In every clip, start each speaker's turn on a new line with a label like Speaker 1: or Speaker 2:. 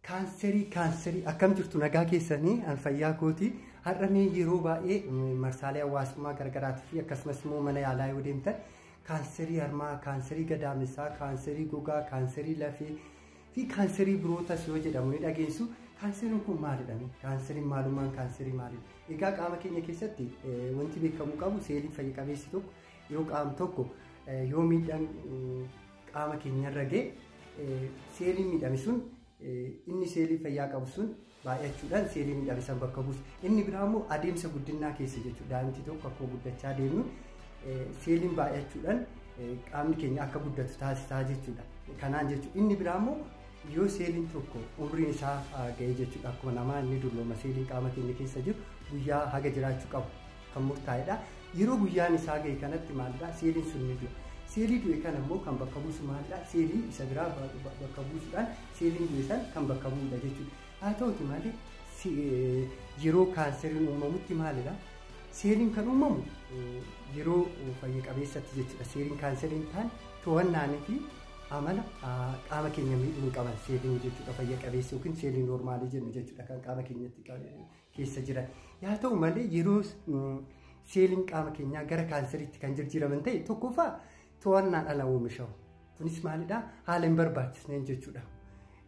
Speaker 1: Kaanserii kaanserii akkam jirtu nagaa keessanii an fayyaa kooti har'a mee yeroo baay'ee mm, marsaalee hawaasummaa gargaraatii fi akkasumas immoo mana yaalaa yoo deemtan kaanserii harmaa kaanserii gadaamessaa kaanserii gogaa kaanserii lafee fi kaanserii birootas yoo jedhamu ni dhageessu kaanseriin kun maalidha mee? kaanseriin maalummaan kaanserii maalidha egaa qaama keenya keessatti eh, wanti beekamuu qabu seeliin fayya qabeessi tokko yoo qaam tokko eh, yoo miidhaan mm, qaama keenyarra ga'e seeliin miidhame sun inni seelii fayyaa qabu sun baay'achuudhaan seelii miidhame san bakka buusa. Inni biraa immoo adeemsa guddinaa keessa jechuudha. Daa'imti tokko akkuma guddachaa deemnu seeliin baay'achuudhaan qaamni keenya akka guddatu taasisaa jechuudha. Kanaan jechuudha. Inni biraa immoo yoo seeliin tokko umriin isaa ga'ee jechuudha. Akkuma namaa inni dullooma seeliin qaama keenya keessa jiru guyyaa haga jiraachuu qabu. kan murtaa'edha. Yeroo guyyaan isaa ga'e kanatti maalidha seeliin sun ni du'a. Seelii du'e kana immoo kan bakka buusu maalidha seelii isa biraa bakka buusuudhaan seeliin du'e san kan bakka bu'udha jechuudha. Haa ta'uti malee yeroo kaanseriin uumamutti maalidha seeliin kan uumamu yeroo fayya qabeessatti jechuudha. Seeliin kaanseriin ta'an to'annaanii fi amala qaama keenya miidhuu hin qaban seeliin jechuudha fayya qabeessa yookiin seeliin noormaalii jennu jechuudha kan qaama keenyatti keessa jira. Yaa ta'u malee yeroo seeliin qaama keenyaa gara kaanseriitti kan jijjiiraman ta'e tokkoffaa to'annaan ala oomishamu. Kunis maalidhaa? Haala hin barbaachisneen jechuudha.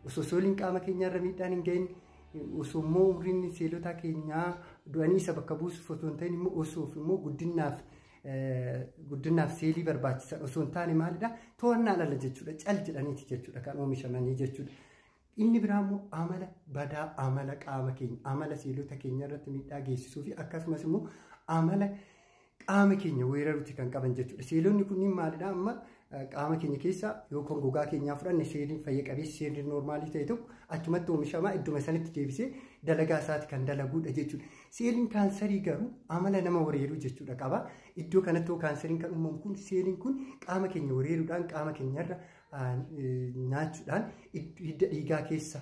Speaker 1: Osoo seeliin qaama keenyaarra miidhaan hin gahin osoo immoo umriin seelotaa keenyaa du'anii isa bakka buusuuf otoo hin ta'in immoo osoo immoo guddinaaf guddinaaf seelii barbaachisan osoo hin taane maalidhaa? To'annaan ala jechuudha. Cal jedhaniiti jechuudha kan oomishamanii jechuudha. Inni biraa immoo amala badaa amala qaama keenya amala seelota keenya irratti miidhaa geessisuu fi akkasumas immoo amala qaama keenya weeraruuti kan qaban jechuudha. Seelonni kunniin maalidha amma qaama keenya keessaa yookaan gogaa keenyaa fudhanne seeliin fayya qabeessi seeliin noormaalii ta'e tokko achumatti oomishamaa idduma sanitti deebisee dalagaa isaati kan dalaguudha jechuudha. Seeliin kaansarii garuu amala nama weeraruu jechuudha qaba. Iddoo kanatti kaansarii kan uumamu kun seeliin kun qaama keenya weeraruudhaan qaama keenyarra nyaachuudhaan hidda dhiigaa keessa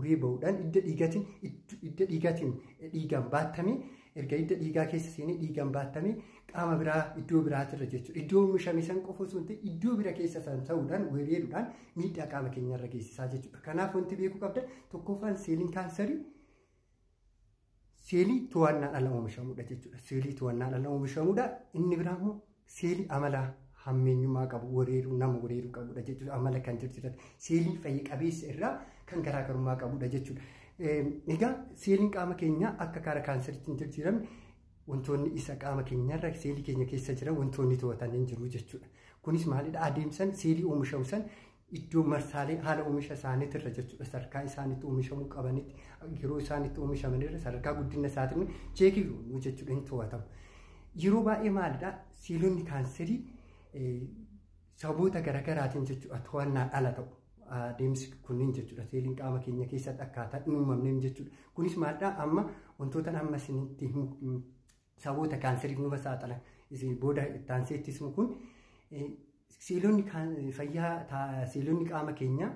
Speaker 1: uree ba'uudhaan hidda dhiigatiin hidda dhiigatiin dhiigaan baattamee erga hidda dhiigaa keessa seenee dhiigaan baattamee qaama biraa iddoo biraatirra jechuudha. Iddoo oomishame san qofa osoo hin ta'in iddoo bira keessa san ta'uudhaan wereeruudhaan miidhaa qaama keenyarra geessisaa jechuudha. Kanaaf wanti beekuu qabdan tokkoffaan seeliin kaansarii seelii to'annaan ala oomishamudha jechuudha. Seelii to'annaan ala oomishamudha. Inni biraa immoo seelii amala hammeenyummaa qabu wareeruu nama wareeruu qabudha jechuudha. Amala kan jirjirate seelii fayya qabeessa irraa kan garaagarummaa qabudha jechuudha. Egaa seeliin qaama keenyaa akka kaara kaanseriitti hin jijjiiramne wantoonni isa qaama keenyarra seelii keenya keessa jiran wantoonni to'atan hin jiru jechuudha. Kunis maalidha adeemsan seelii oomishamu san iddoo marsaalee haala oomisha isaaniitti irra jechuudha sadarkaa isaaniitti oomishamuu qabanitti yeroo isaaniitti oomishaman irra sadarkaa guddina isaatiin cheekii goonuu jechuudha hin to'atamu. Yeroo baay'ee maalidhaa seelonni kaanserii sababoota garaagaraatiin jechuudha to'annaan ala ta'u. Adeemsi kunniin jechuudha seeliin qaama keenya keessatti akkaataa hin uumamneen jechuudha. Kunis maalidhaa amma wantoota amma isinitti Saboota kaanseriif numa saaxila. Booda itti aansee itti himu kun seelonni fayyaa seelonni qaama keenyaa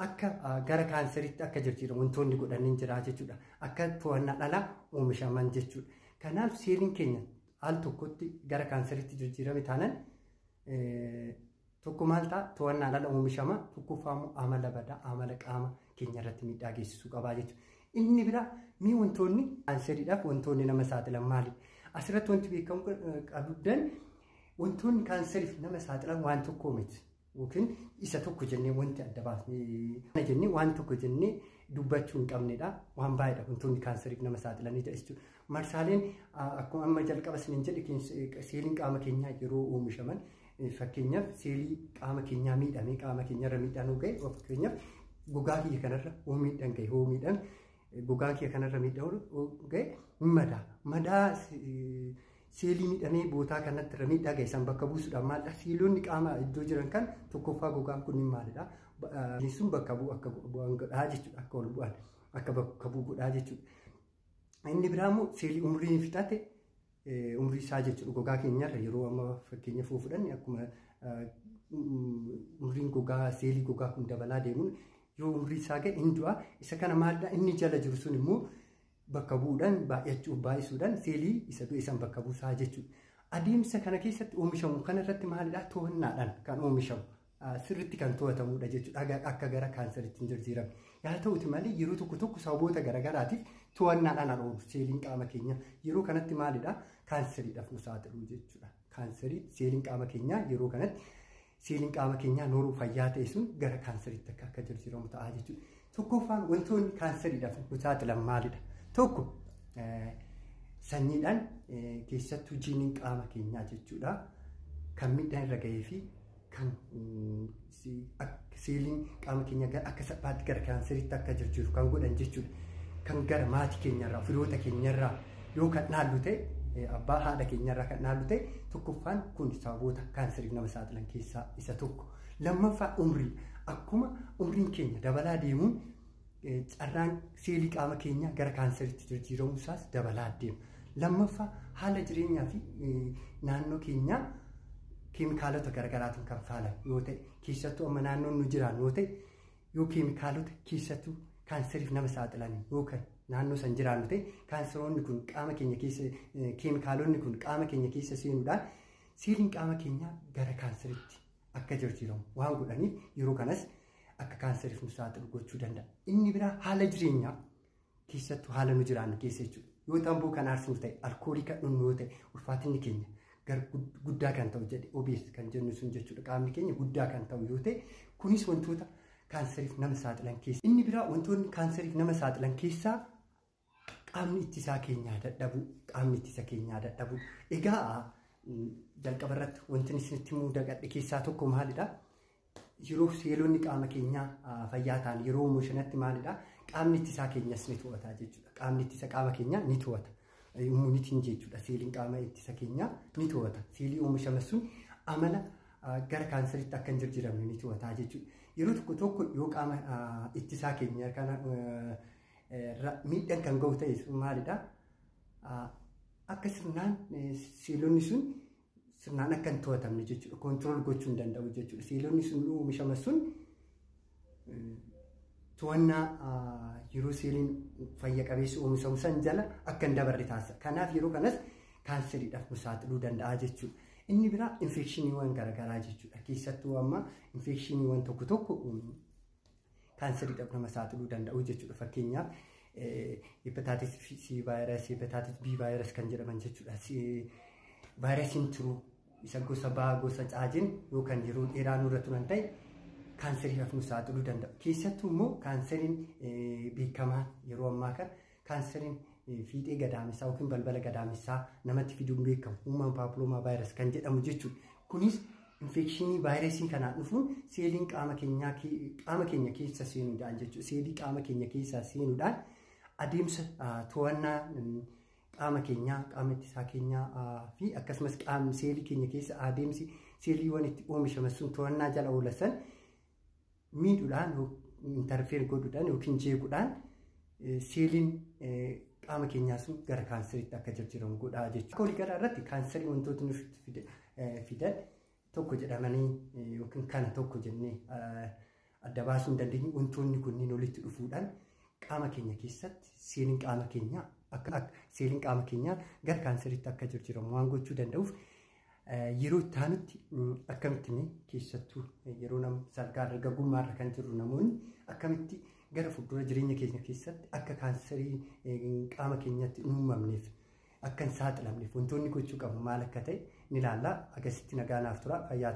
Speaker 1: akka gara kaanseriitti akka jijjiiramu wantoonni godhanii jira jechuudha. Akka to'annaa dhalaa oomishaman jechuudha. Kanaaf seeliin keenya al tokkotti gara kaanseriitti jijjiirame taanaan Tokko maal ta'a to'annaan ala oomishama tokkoffaa immoo amala badaa amala qaama keenya irratti miidhaa geessisuu qabaa jechuudha. Inni biraa mee wantoonni kaanseridhaaf wantoonni nama saaxilan maali? Asirratti wanti beekamu qabdan wantoonni kaanseriif nama saaxilan waan tokkoo miti. Yookiin isa tokko jennee wanti adda baasnee jennee waan tokko jennee dubbachuu hin qabnedha. Waan baay'eedha wantoonni kaanseriif nama saaxilanidha jechuudha. Marsaaleen akkuma amma jalqaba isiniin jedhe seeliin qaama keenyaa yeroo oomishaman fakkeenyaaf seelii qaama keenyaa miidhamee qaama keenyarra miidhaan ga'e fakkeenyaaf gogaa kiyya kanarra hoo miidhaan ga'e hoo miidhaan gogaa kiyya kanarra miidhaan ga'e madaa madaa seelii miidhamee bootaa kanatti irra miidhaa ga'e san bakka buusuudhaan maalidha seeloonni qaama iddoo jiran kan tokkoffaa gogaan kun maalidha sun bakka bu'u akka bu'an godhaa jechuudha akka ol bu'an akka bakka bu'u godhaa jechuudha. Inni biraa immoo seelii umrii fixate umrii isaa jechuudha gogaa keenyarra yeroo amma fakkeenya fuu fudhanne akkuma umriin gogaa seelii gogaa kun dabalaa deemuun yoo umrii isaa ga'e hin du'a isa kana maalidha inni jala jiru sun immoo bakka bu'uudhaan baay'achuuf baay'isuudhaan seelii isa du'e san bakka buusaa jechuudha. Adeemsa kana keessatti oomishamu kanarratti maalidha to'annaadhaan kan oomishamu sirritti kan to'atamudha jechuudha akka gara kaansaritti hin jijjiiramne. Yaa ta'uti malee yeroo tokko tokko sababoota garaagaraatiif to'annaadhaan ala oolu seeliin qaama keenyaa yeroo kanatti maalidha kaansariidhaaf nu saaxilu jechuudha. Kaansarii seeliin qaama keenyaa yeroo kanatti seeliin qaama keenyaa nooruu fayyaa ta'e sun gara kaansariitti akka akka jijjiiramu ta'a jechuudha. Tokkoffaan wantoonni kaansariidhaaf nu saaxilan maalidha? Tokko sanyiidhaan keessattuu jiiniin qaama keenyaa jechuudha. Kan miidhaan irra gahee fi kan seeliin qaama keenya gara akka salphaatti gara kaanseriitti akka jijjiiru kan godhan jechuudha. Kan gara maatii keenyarraa, firoota keenyarraa yoo kan dhaallu ta'e abbaa haadha keenyarraa kan dhaallu ta'e tokkoffaan kun sababoota kaanseriif nama saaxilan keessaa isa tokko. Lammaffaa umrii akkuma umriin keenya dabalaa deemuun carraan seelii qaama keenyaa gara kaansariitti jijjiiramuu isaas dabalaa deema. Lammaffaa haala jireenyaa fi naannoo keenyaa keemikaalota garaagaraatiin kan faalan yoo ta'e keessattuu amma naannoon nu jiraan yoo ta'e yoo keemikaalota keessattuu kaansariif nama saaxilan yoo kan naannoo san jiraannu ta'e kaansaroonni kun qaama keenya keessa keemikaalonni kun qaama keenya keessa seenuudhaan seeliin qaama keenyaa gara kaansariitti akka jijjiiramu waan godhaniif yeroo kanas akka kaanseriif nu saaxilu gochuu danda'a. Inni biraa haala jireenyaa keessattuu haala nu jiraannu keessa jechuudha. Yoo tamboo kan aarsinu ta'e, alkoolii kan dhugnu yoo ta'e, ulfaatinni keenya gara guddaa kan ta'u jedhe obees kan jennu sun jechuudha. Qaamni keenya guddaa kan ta'u yoo ta'e, kunis wantoota kaanseriif nama saaxilan keessa. Inni biraa wantoonni kaanseriif nama saaxilan keessaa qaamni ittisaa keenyaa dadhabuu qaamni ittisa keenyaa dadhabuu egaa jalqaba irratti wanti isinitti himuu dagadhe keessaa tokko maalidha yeroo seelonni qaama keenyaa fayyaa ta'an yeroo umushanatti maalidha qaamni ittisaa keenyas ni to'ata jechuudha qaamni ittisa qaama keenyaa ni to'ata immunitiin jechuudha seeliin qaama ittisa keenyaa ni to'ata seelii umushaman sun amala gara kaanseritti akka hin jijjiiramne ni to'ata jechuudha yeroo tokko tokko yoo qaama ittisaa keenya kana miidhaan kan gahu ta'e sun maalidha? Akka sirnaan seelonni sun sirnaan akka hin to'atamne jechuudha. Koontirool gochuu hin danda'u jechuudha. Seelonni sun oomishama sun to'annaa yeroo seeliin fayya qabeessi oomishamu san jala akka hin dabarre taasisa. Kanaaf yeroo kanas kaanseriidhaaf nu saaxiluu danda'a jechuudha. Inni biraa infeekshiniiwwan garaagaraa jechuudha. Keessattuu amma infeekshiniiwwan tokko tokko kaansaridhaaf nama saaxiluu danda'u jechuudha. Fakkeenyaaf hepatitis C vaayirasi, hepatitis B vaayirasi kan jedhaman jechuudha. Vaayirasiin tiruu isa gosa baa gosa caajiin yoo kan yeroo dheeraa nurra turan ta'e kaansariidhaaf nu saaxiluu danda'u. Keessattuu immoo kaansariin beekamaa yeroo ammaa kana Kaanseriin fiixee gadaamessaa yookiin balbala gadaamessaa namatti fiduun beekamu uumaan paapiloomaa vaayirasii kan jedhamu jechuudha. Kunis infekshinii vaayirasiin kanaan dhufuun seeliin qaama keenyaa qaama keenya keessa seenuudhaan jechuudha. Seelii qaama keenya keessaa seenuudhaan adeemsa to'annaa qaama keenyaa, qaama ittisaa keenyaa fi akkasumas qaama seelii keenya keessa adeemsi seeliiwwan itti oomishaman sun to'annaa jala oolan miidhuudhaan intarfeer godhuudhaan yookiin jeequudhaan seeliin qaama keenyaa sun gara kaanseriitti akka jijjiiramu godhaa jechuudha. Akka waliigalaa irratti kaanserii wantoota nuuf fidan tokko jedhamanii yookiin kana tokko jennee adda baasuu hin dandeenye wantoonni kunniin walitti dhufuudhaan qaama keenya keessatti seeliin qaama keenyaa akka seeliin qaama keenyaa gara kaanseriitti akka jijjiiramu waan gochuu danda'uuf Yeroo itti aanutti akkamitti mee keessattuu yeroo nama salgaa dargaggummaa irra kan jirru namoonni akkamitti gara fuuldura jireenya keenya keessatti akka kaansarii qaama keenyatti hin uumamneef akka hin saaxilamneef wantoonni gochuu qabu maal akka ta'e ni ilaalla. Akkasitti nagaa naaf tura fayyaa